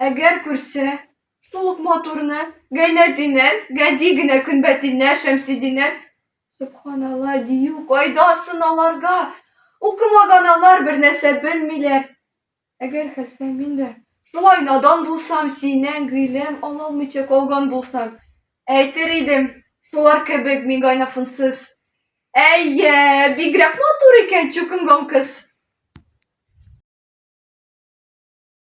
Әгәр күрсә, шул ук матурны, Гайнәтдинәр, гади генә Көнбәтилнәр, Шәмсетдиннәр, Сөбханалла, дию кайда сын аларга? Укымаган алар, бернәрсә белмиләр. Әгәр, хәлфә, мин дә шулай надан булсам, синнән гыйлем алалмыйча калган булсам, әйтер идем, шулар кебек мин гайнафунсыз. Әйе, бигрәк матур икән Чукынгон кыз!